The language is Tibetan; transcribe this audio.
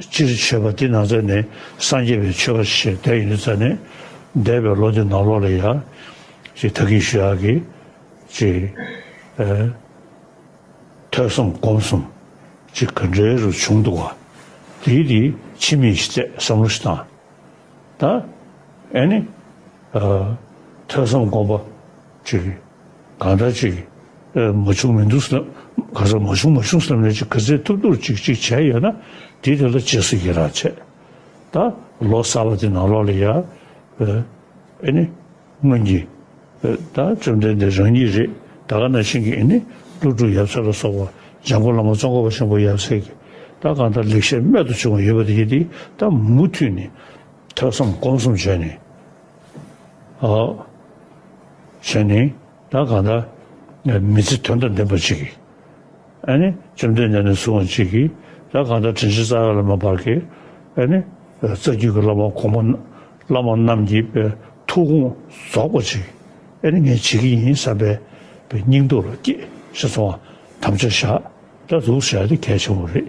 སྤྱིར་མཆོད་པ་འདི་ན་ཚ་ནི་སངས་རྒྱས་པའི་མཆོད་པ་ཞེས་བསྡད་ཡོད་ཚ་ནི། འདས་པའི་ལོ་འདི་ནང་ལོགས་ལ་ཡག། ཅེས་ཐ་གིང་ཞུ་ཡག་གིས། ཅེས། ཐོས་གསུམ་སྒོམ་གསུམ། ཅེས་ག་འདྲའི་རུ་བྱུང་འདུག་བ། དེའི་དེ་ཕྱི་མིག་ཞིག་བལྟས་བསམ་བློ་ཞིག་བཏང། ད། ཨེ་ནི། ཐོས་གསུམ་སྒོམ་པ། ཅིག་གིས། གང་ལྟར་ཅིག། མ་བྱུང་མི་འདུག་བསམ། གང་ཟག་མ་བྱུང་མ་བྱུང་བསམ་ནས་ཅིག་གི་ཚེ་ཐུབ་ཐུབ་ཅིག་ཅིག་བྱས་ཡོད་ན། དེ་དེ་ལ་རྗེས་སུ་ཡི་རང་བྱེད། ད། ལོ་གསར་བ་དེ་ནང་ལོགས་ལ་ཡ། ཨེ་ནི། སྔོན་གྱི། ད་བཅོམ་ལྡན་འདས་རང་ཉིད་རེད་ད་ག་ན་ཤིང་གི་ཨེ་ནི། ཀླུ་སྒྲུབ་ཡབ་སྲས་ལ་སོགས་པ། འཇང་པོ་བླ་མ་ཙོང་ཁ་བ་ཤིང་པོ་ཡབ་སྲས་ཀྱི། ད་གང་ལྟར་ལེགས་བཤད་རྨད་དུ་བྱུང་བ་ཡོད་པ་དེ་ཡི་དེ་ད་མུ་མཐུད་ནས། ཐོས་བསམ་སྒོམ་གསུམ་བྱས་ནས། ཞེས་ནི་ད་གང་ལྟར་མི་ཚེ་དོན་དང་ལྡན་པ་གཅིག་གིས་ཨ་ནི་བཅོམ་ལྡན་འདས་ནས་བཟུང་བ་གཅིག་གིས་ད་གང་ལྟར་དྲིན་ཆེན་རྩ་བའི་བླ་མ་བར་གྱི་ཨ་ནི་རྩ་རྒྱུད་ཀྱི་བླ་མ་གོང་མ་བླ་མ་རྣམས་ཀྱི་ཐུགས་དགོངས་རྫོགས་པ་གཅིག་གིས་ཨ་ནི་ངས་བྱེད་ཀྱི་ཡིན་བསམ་པའི་སྙིང་སྟོབས་ལ་སྐྱེད་བཞག་ཚོང་བ་དམ་བཅའ་བཞག་སྒྲ་འཛུགས་བྱས་ཏེ་གལ་ཆེན་པོ་རེད།